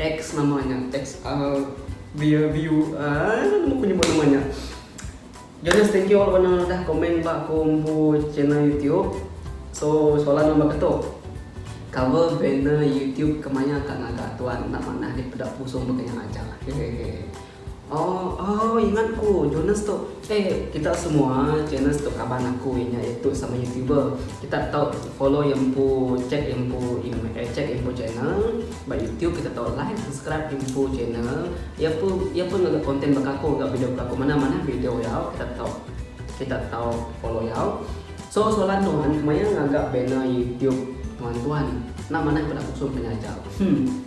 Ex nama nya ex uh beer view uh nama aku nyebut nama nya Jonas thank you laban anu udah komen ba aku empu channel youtube so soalan nya baka tu cover banner youtube ke maya ka ngaga tuan enda manah dipeda pusung baka nya aja hehehe. Oh oh ingat ku Jonas tu eh kita semua Jonas tu kaban aku inya itu sama youtuber kita tau follow ya empu check ya empu eh check ya empu channel ba youtube kita tau like subscribe ya empu channel ya pun ya pun ngaga content ba kaku ga video kaku manah manah video ya kita tau kita tau follow ya so soalan nuan kemaya ngaga banner youtube nuan tuan nak manah peda kusung penyaja hmm.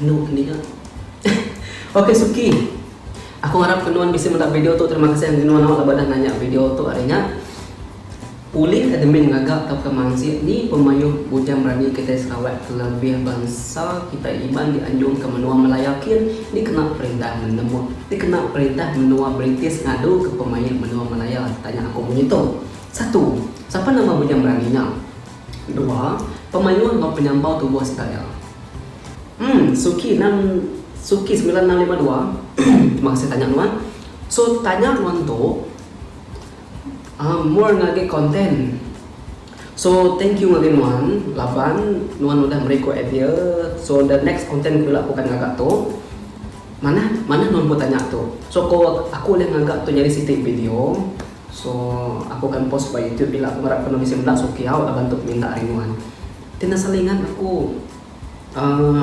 Inu ke nia. Ok suki. Aku ngarap ke nuan bisi meda video tu terima kasih enggi nuan awak laban dah nanya video tu ari nya. Ulih admin ngaga tauka mansik ni pemayuh bujang berani kitai Sarawak kelebih bansa kitai Iban dianjung ke menua Malaya kin dikena perintah menua dikena perintah menua British ngadu ke pemayuh menua Malaya tanya aku munyi tu. Satu. Sapa nama bujang berani nya? Dua, pemayuh enggau penyambau tubuh sedaya. Umm Suki enam Suki semilan enam lima dua Terima kasih tanya nuan. So tanya nuan tu um more ngagai content. So thank you ngagai nuan laban nuan udah meri aku idea so the next content ku ila aku akan ngaga tu. Manah manah nuan pun tanya tu. So ko aku ulih ngaga tu nyadi siti video. So aku akan post ba YouTube ila aku ngarap kena bisi menda suki au laban tu peminta ari nuan. Ti nasa lingat aku uhh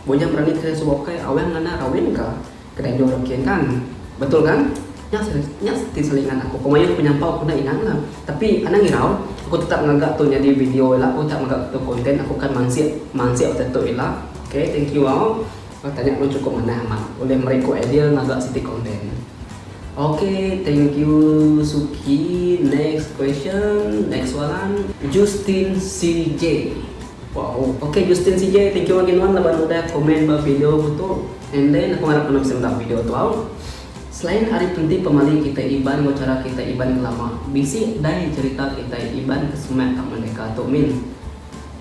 bujang berani ke suba ukai awang ngena rawin ka ke dadu rak kin kan. Betul kan? Nya se nya ti selingat aku. Ku mayuh penyampau ku enda inang la. Tapi anang irau aku tetap ngaga tu nyadi video ila aku tetap ngaga tu content aku akan mansik mansik betetu ila. Okay thank you au. Ba tanya lu cukup manah amat ulih meri ku idea ngaga siti konten. Ok thank you Suki next question next soalan. Justin CJ Wow ok Justin CJ thank you agi nuan laban udah komen ba video ku tu and then aku ngarap nuan bisi meda video tu au. Selain ari penti pemali kitai Iban enggau chara kitai Iban ngelama bisi dai cherita kitai Iban ke semak ka merdeka tu min.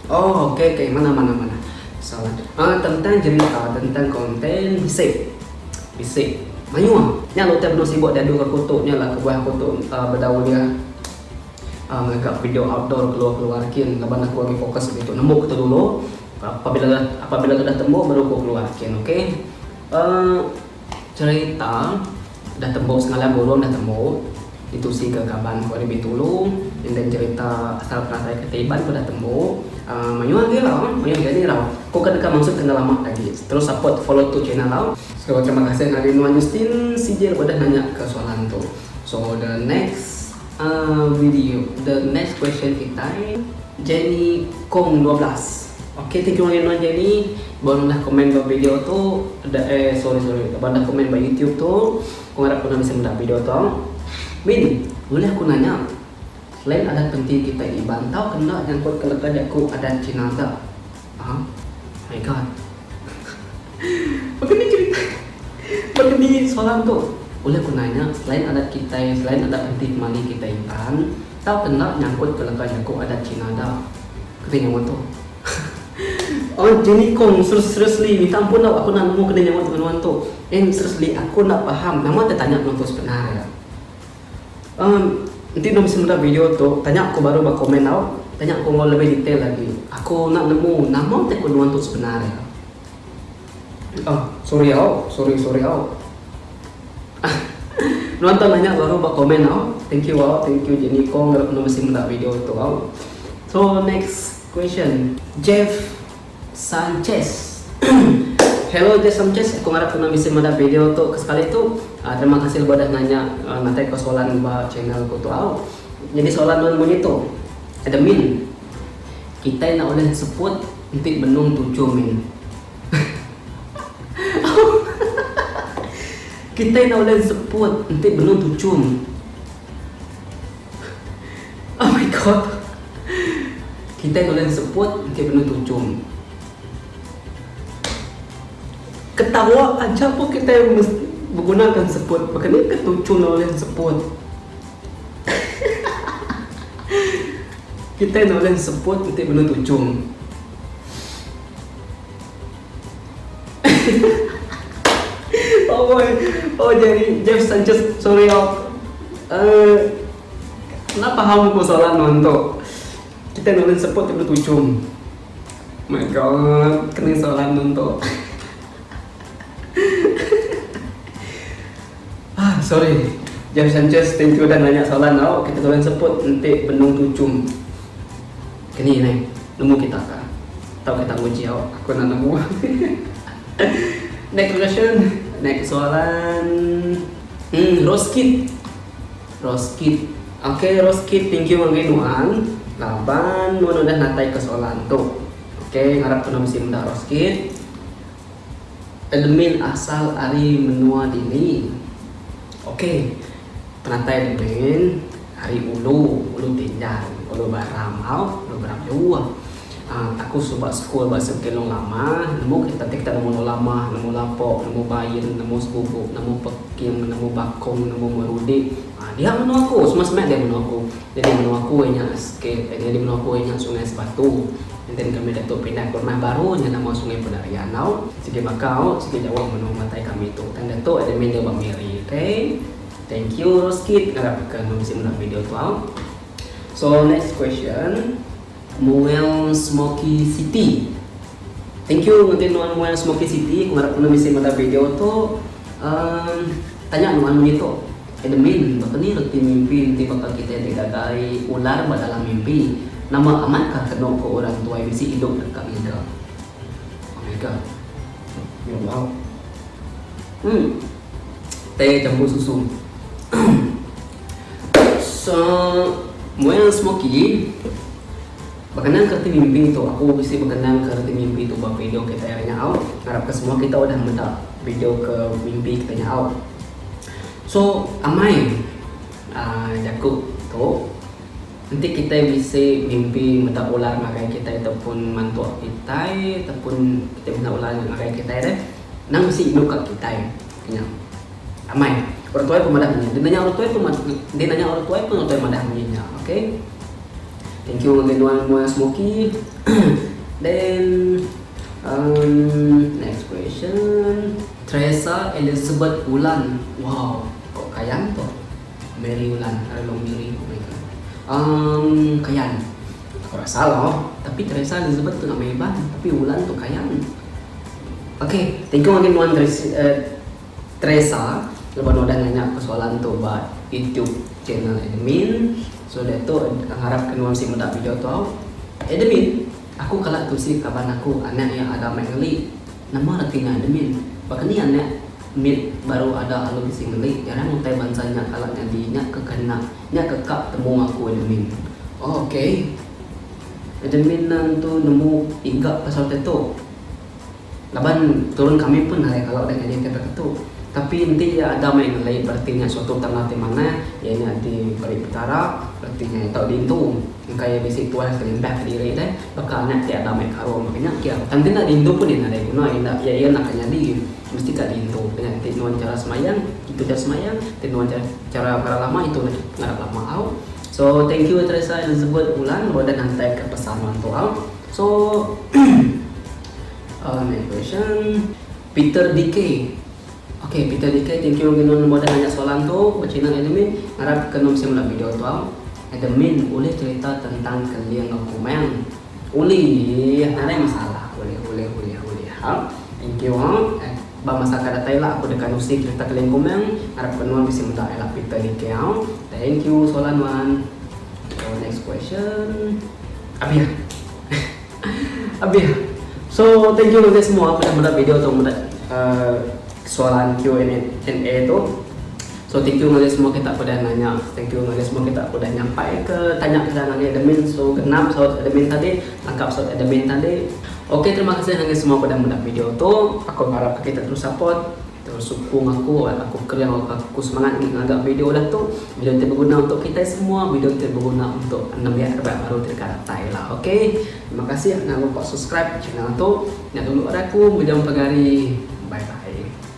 Oh ok ok manah manah manah salah ah tentang jerita tentang content bisi bisi mayuh nya utai benung sibuk diadu ka aku tu nya lah kebuah aku tu ah bedau ulih ah ngaga video outdoor keluar keluar kin laban aku agi focus agi tu nemu kitu dulu apabila dah apabila dah tembu baru aku keluar kin ok ah jerita. Dah tembu semalam burung dah tembu ditusi ke kaban ku ari Bintulu enda nyerita asal penatai kereta Iban tu dah tembu uhh mayuh agi lah mayuh agi ni rau ku ke deka mansut ke enda lama agi terus support follow tu channel rau. So terima kasih ngagai nuan Justin CJ laban udah nanya ke soalan tu. So the next. Video The next question kitai Jenny Kong dua belas Okay thank you angai Jenny ba ngundah comment ba video tu da eh sorry sorry ba ngundah comment ba YouTube tu ku ngarap ku enda bisi meda video tu Min ulih aku nanya Selain adat penting kitai Iban tau ke enda nyangkut ke leka jaku adat Cina ga. Huh? My God. Baka ni cerita baka ni soalan tu? Ulih ku nanya, selain adat kitai, selain adat enti pemali kitai intan, tauka enda nyangkut ke leka jaku adat China da? Kena nyaut tu. Oi Jenny Kong, seriously minta ampun tau aku enda nemu kena nyaut ngan nuan tu. Eng seriously aku enda paham nama te tanya nuan tu sebenar ya. Emm enti enda mesti meda video tu tanya aku baru ba komen tau tanya aku enggau lebih detail agi aku enda nemu nama ti kenuan tu sebenar iya aaa sorry au sorry sorry au aaa nuan tau nanya baru ba komen au thank you au thank you jenny kong enda mesti meda video tu au so next question jeff Sanchez. Hello Jeff Sanchez, aku ngarap tunang bisi madah video tu kesekali tu. Terima kasih lebuh udah nanya ngatai ko soalan ba channel ku tu au. Nyadi soalan nuan munyi tu, Admin, kitai enda ulih sebut enti benung tuju min. Kitai enda ulih sebut enti benung tuju min. Oh my god. Kitai tulen seput engke benung tujung. Ketawa aja pun kitai mesti begunakan seput. Baka ni ke tujung enda ulih seput. Kitai enda ulih seput enti benung tujung. Amboi. Oh jadi Jeff Sanchez sorry oh. Uh. Enda paham ku soalan nuan tu. Kitai nulung seput ti betujung. My God kena soalan nuan tu. Ahh sorry. Jeff Sanchez thank you udah nanya soalan tau. Kitai nulung seput enti benung tujung. Keni neh nemu kita ka. Tau kita nguji au. Aku enda nemu. Next question. Next soalan. Uhh roast kit. Roskit. Ok Roskit thank you ngagai nuan laban nuan udah natai ka soalan tu. Ok ngarap kena bisi meda Roskit. Admin asal ari menua dini. Ok penatai admin ari ulu, ulu tinjang, ulu baram au, ulu baram jauh. Aaa aku suba sekul ba sik pengelong lama, nemu ke ditanti kita nemu Nolamah, nemu Lapok, nemu Bain, nemu Sebubuk, nemu Peking, nemu Bakong, nemu Merudi. Aaa diha menua aku, semua semak diha menua aku. Nyadi menua aku inya SK, nyadi menua aku inya Sungai Sebatu. Enten kami ditu pindah ke rumah baru nya nama Sungai Pedaria enggau. Sigi bakau, sigi jauh menua matai kami tu. Tang ditu ida meh dau ba Miri. Okay. Thank you Roskit, ngarap ka bisi meda video tu au. So next question. Muel Smoky City. Thank you ngagai nuan Muel Smoky City aku ngarap nuan bisi meda video tu uhh tanya nuan munyi tu Admin baka ni reti mimpi enti baka kitai ti dagai ular ba dalam mimpi nama amat ka kenu ku orang tuai bisi idup deka ngiga ngiga. Yo bau. Uhh. Teh campur susu. so, mual smoky. Bekenang ke reti mimpi tu, aku bisi bekenang ke reti mimpi tu ba video kitai hari nyau. Ngarap ke semua kita udah meda video ke mimpi kitai nyau. So, amai uh, jaku tu, enti kitai bisi mimpi meda ular ngagai kitai ataupun mantuk kitai ataupun kitai meda ular ngagai kitai deh. Endang bisi indu ka kitai nya. Amai. Orang tuai pun madah munyi. Dia nanya orang tuai pun dia nanya orang tuai pun orang tuai madah munyi nya. Okay. Thank you ngagai nuan muai smoky. Then um, next question. Tresa Elizabeth Ulan. Wow. Kok kayan tu. Mary Ulan. Are long Mary. Oh my god. Um, kayan. Itu kau rasa lo, tapi Teresa Elizabeth tu nama Iban, tapi Wulan tu Kayan. Ok, thank you again nuan Teresa laban udah nanya aku soalan tu ba YouTube channel admin. So diatu ngarap ke nuan si meda video tu au. Admin, aku kala tusi kaban aku anak iya ada mai ngeli. Nama reti nya admin? Baka ni anak mit baru ada lalu bisi ngeli, jarang utai bansa nya kala nyadi nya ke kena. Nya ke ka temu aku admin. Oh ok. Admin ne entu nemu iga pasal te tu. Laban turun kami pun alai kala udah nyadi ti peka tu. Tapi enti iya ada meh ngelai bereti nya suatu tanda ti manah iya nya ti peri Petara bereti nya iya tau diintu engka iya bisi puas kelimpah ke diri deh baka anak ti ada meh karum. Nya ke. Tang kena diintu pun iya nadai guna iya enda iya enda ka nyadi. Mesti ka diintu dengan enti nuan cara semayang intu cara semayang enti nuan cara cara ngarap lama intu nega ngarap lama au. So thank you Teresa Elizabeth Bulan lalu udah ngantai ka pesan nuan tu au. So uh next question Peter DK Ok Peter DK thank you lagu nuan lalu udah nanya soalan tu ba channel admin ngarap ka nuan bisi mula video tu au. Admin ulih cerita tentang keling aku mang. Ulih anai masalah ulih ulih ulih ulih ha. Thank you ha. Ba masa ka datai la aku deka nusi cerita Keling Kumang. Ngarap ke nuan bisi meda ila Peter niki ha. Thank you soalan nuan. So next question. Abih. Abih. So thank you nganti semua udah meda video tu meda uh, soalan Q&A tu. So thank you ngagai semua kita ke udah nanya, thank you ngagai semua kita ke udah nyampai ke tanya kita ngagai admin. So genap saut admin tadi, tangkap saut admin tadi. Ok terima kasih ngagai semua ke udah meda video tu. Aku ngarap ke kita terus support, terus sukung aku, aku kereau ka aku semangat agi ngaga video udah tu. Video ti beguna untuk kitai semua, video ti beguna untuk nembiak raban baru ti deka datai ila. Ok terima kasih enda lupa subscribe channel tu. Nya dulu ari aku, mejong pagari. Bye bye.